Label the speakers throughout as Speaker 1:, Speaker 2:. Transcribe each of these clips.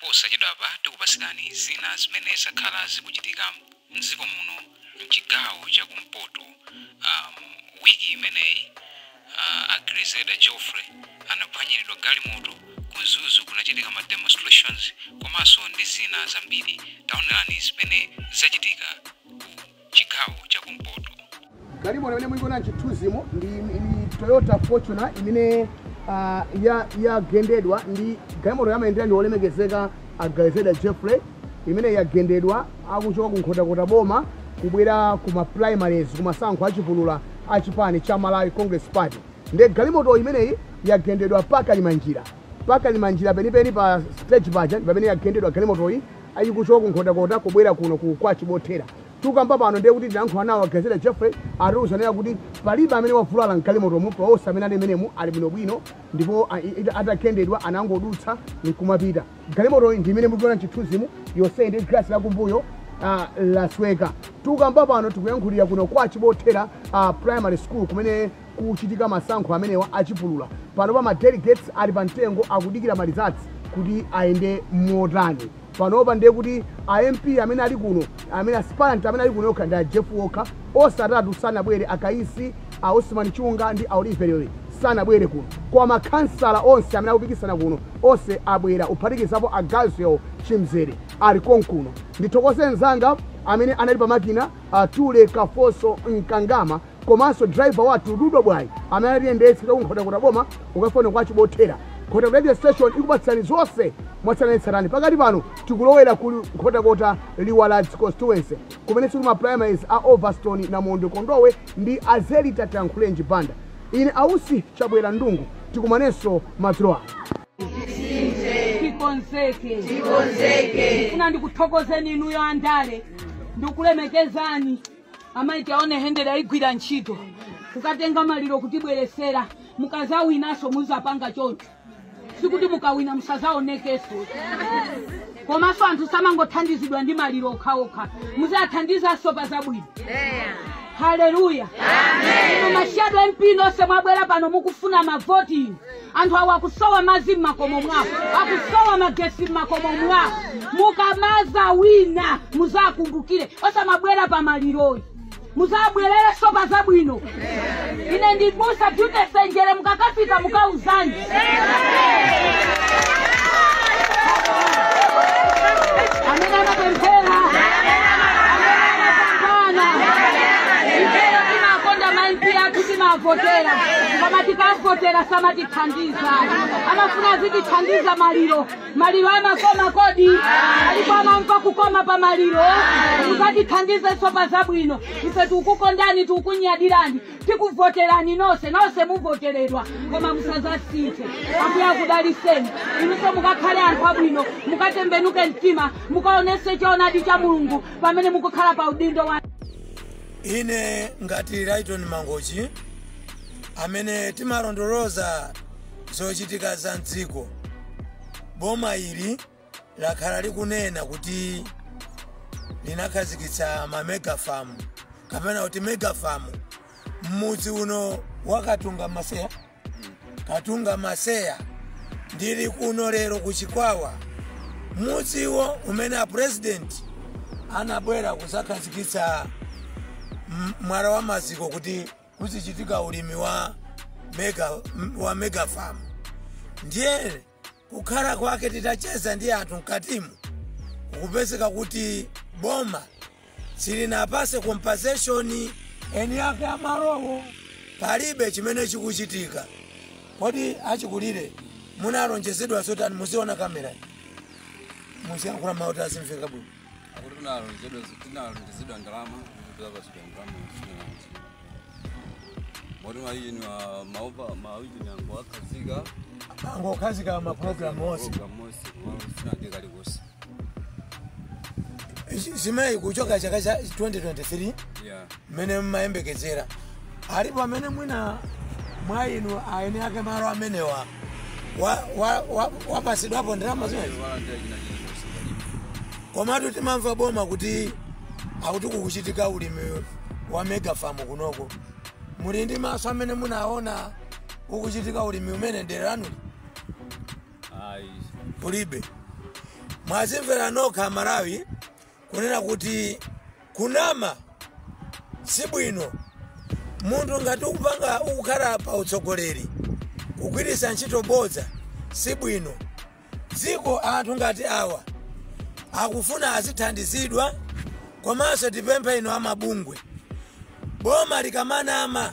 Speaker 1: Posachedwapa tikupatsirani zina zimene zakhala zikuchitika m'dziko muno m'chigawo cha kumpoto am, wiki imeneyi. A Grezelder Jeffrey anaphwanyiridwa galimoto, ku Mzuzu kunachitika ma demonstrations komanso ndi zina zambiri. Taonerani zimene zachitika ku. chigawo cha kumpoto. Galimoto
Speaker 2: imene muikuona m'chithunzimo ndi ndi Toyota Fortuner imene ah, ya- yagendedwa ndi galimoto yamayendera ndi olemekezeka a Grezelder Jeffrey imene yagendedwa akuchoka ku Nkhotakota boma kubwera ku ma primaries ku masankho achipulula a chipani cha Malawi Congress Party nde galimoto imeneyi yagendedwa pakali manjira pakali manjira penipeni pa stage paja ndi pamene yagendedwa galimotoyi ikuchoka ku nkhotakota kubwera kuno ku kwa chibothera tukamba pano ndiye kuti tinayankhula nawo a grezelder jeffrey atiuza kunena kuti palibe amene wavulala mgalimotomu pa onse amene ali menemu ali bwinobwino ndipo a- i- atagendedwa anangodutsa nkumapita galimotoyi ndi imene mukuiona mchithunzimu yonse ndi galasi lakumbuyo ah, lasweka tukamba pano tikuyankhulira kuno kwa chibothera ah, primary school kumene kuchitika masankho amenewa achipulula. Panopa ma delegates ali pa mtengo akudikira ma results kuti ayenda motani. Panopa ndiye kuti a MP amene ali kuno, amene aspirant amene ali kuno okha ndi a Jeff Walker, onse atatu sanabwere, a Kaisi, a Osman Chunga ndi a Oliver Lewe sanabwere kuno. Koma makhansala onse amene akupikisana kuno, onse abwera kuphatikizapo a Gaziyao Chimzere ali konkuno. Ndithokoze mnzanga amene anali pa makina, a Tule Kafoso Mkangama. komanso driver wathu dudwa bwayi amene atiyendetsa kuchoka ku nkhotakota boma kukafika kuno kwa chibothera nkhotakota radio station ikupatsirani zonse mwatsatanetsatane pakati pano tikulowera ku nkhotakota liwaladzi constituency kumenenso kuli ma primaries a overstone namondo kondowe ndi a zelita tankhulenji banda ine ausi chabwera ndungu tikumanenso madzulo ano tikonzeke
Speaker 3: tikonzeke ndifuna ndikuthokozeni inuyo andale ndikulemekezani amayi Tiaone Hendry agwira ntchito kukatenga maliro kutibweresera mukazawinaso muzapanga choncho sikuti mukawina musazaonekeso komanso anthu samangothandizidwa ndi maliro okhaokha muzathandizanso pa zabwino haleluya inu ma shadow MP nonse mwabwera pano mukufuna mavoti inu anthu awa akusowa madzi m'makomo mwawo akusowa magesi m'makomo mwawo mukamazawina muzakumbukire osamabwera pa maliroyi muzabwererenso pa zabwino ine ndi m'busa jute senjere mukakafika mukauzani amene anapemphera amene anapambana ifeyo timakonda ma MP athu timavotera koma tikavotera samatithandiza amafuna azitithandiza maliro maliro amakoma kodi alipo amamva kukoma pa maliro muzatithandizenso pa zabwino ife tikukukondani tikukunyadirani tikuvoterani nonse nonse muvoteredwa koma musazasinthe ambuye akudaliseni inunso mukakhale anthu abwino mukatembenuke mtima mukaonese choonadi cha mulungu pamene mukukhala pa udindo wa ine
Speaker 4: ngati Lyton Mangochi amene timalondoloza zochitika za mdziko boma ili lakhala likunena kuti linakhazikitsa ma mega farm kapena kuti mega farm m'mudzi uno wakatunga maseya katunga maseya ndili kuno lero ku chikwawa mudziwo umene apurezidenti anabwera kuzakhazikitsa mwala wa maziko kuti kuzichitika ulimi wa mega farm ndiye Kukhala kwake titacheza ndi anthu mkatimu zikupezeka kuti boma silinapase compensation eni ake amalowo palibe chimene chikuchitika kodi achikulire munalonjezedwa zotani muziona kamera muziyankhula mawu azimveka bwino akuti
Speaker 5: tinalonjezedwa tinalonjezedwa ndalama kuti apatsidwa ndalama zinazi moti maijini
Speaker 4: maopa maujini angu akhazika angokhazika mapulogalamu onse mosi sinange kalikosi zimenezi kuchoka chaka cha 2023 ya mmene mmayembekezera alipo amene mwina mwa inu aene ake malo amenewa wapasidwapo ndalama zimenezi komatu timamva boma kuti akuti kukuchitika ulimi wa megafamu kunoko muli ndi maso amene munaona ukuchitika ulimi umenewu dera lanuli ayi kulibe mwazimvera nokha amalawi kunena kuti kunama sibwino. Munthu ngati ukupanga ukukhala pa utsogoleri kugwiritsa ntchito bodza sibwino. Dziko anthu ngati awa akufuna azithandizidwa komanso tipemphe inu amabungwe boma likamanama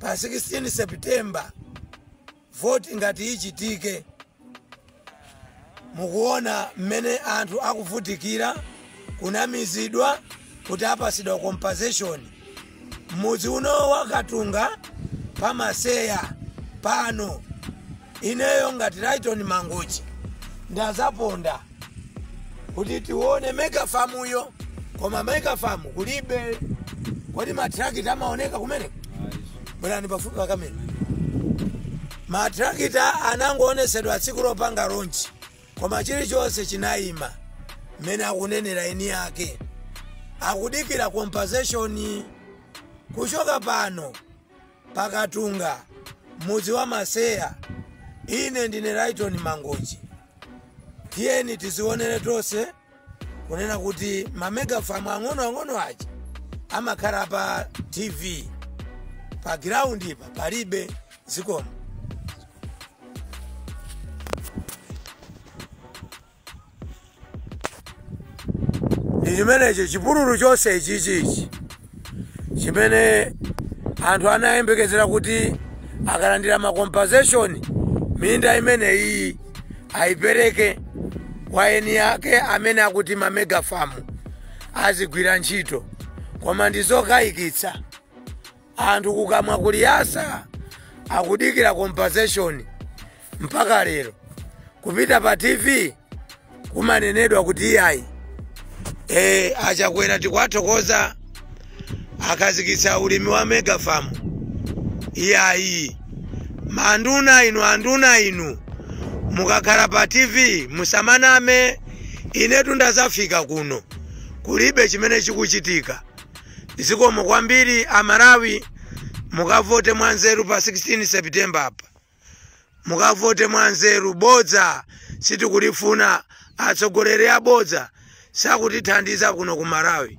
Speaker 4: Pa 16 September voti ngati ichitike, mukuona mmene anthu akuvutikira, kunamizidwa kuti apasidwa compensation. Mudzi uno wa Katunga pa Maseya pano, ineyo ngati Lyton Mangochi ndazaponda. kuti tione megafamuyo koma megafamu kulibe kodi matrakita amaoneka kumene bwerani pafupi pakamera matrakita anangoonetsedwa tsiku lopanga ronchi koma chilichonse chinayima mmene akunenera eni yake akudikira compensation kuchoka pano pa Katunga, mudzi wa Maseya. Ine ndine Lyton Mangochi. Tiyeni tiziwonere tonse kunena kuti ma megafarm ang'onoang'ono aja amakhala pa TV pa ground pa palibe zikomo. ndi chimenecho chipululu chonse ichichi chimene anthu anayembekezera kuti akalandira makompensation minda imeneyi ayipereke kwa eni yake amene akuti mamegafamu azigwira ntchito koma ndi zokayikitsa Anthu kukamwa kuli yasa akudikira compensation mpaka lero. Kupita pa TV kumanenedwa kuti iyayi. E, a Chakwera tikuwathokoza akhazikitsa ulimi wa megafamu. Iyayi. Manduna inu anduna inu mukakhala pa TV musamaname inetu ndazafika kuno kulibe chimene chikuchitika. Zikomo kwambiri a Malawi mukavote mwanzeru pa 16 September apa. Mukavote mwanzeru bodza sitikulifuna atsogoleri abodza sakutithandiza kuno ku Malawi.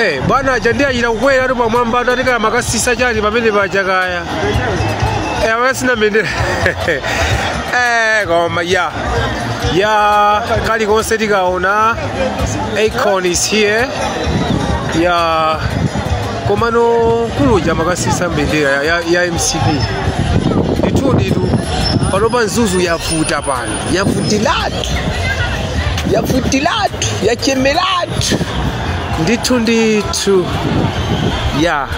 Speaker 6: Eh, bwana aja ndiye achita kukweratu pamwambatu atikala makasisa chani pamene paja kaya eh, asina mbendera eh, koma ya ya kalikonse tikaona Akon is here ya komano kuluja makasisa mbendera ya, ya, ya mcp ndithuditu panopa mzuzu yavuta pano yavutilatu yavutilatu yachemeratu ndithu ndithu ya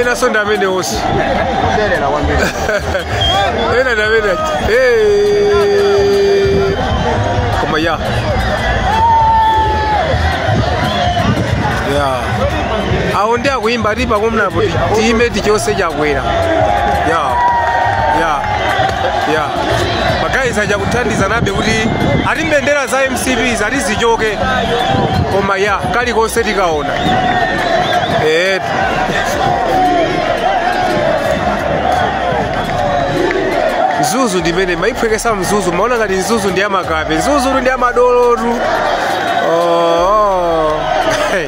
Speaker 6: enaso ndi amene onse kuderera kwambiri ena ndi amene Eh. koma ya ya awo ndi akuyimba ati pakomanapo tiyimeti chonse chakwera ya ya ya magayizi achakuthandiza nabe kuti ati mbendera za mcp ati zichoke koma ya kalikonse tikaona Eh, mzuzu ndi imene mayiphwekesa mzuzu mumaona ngati mzuzu ndi ya makape mzuzu ndi ya madolotu oh. Hey.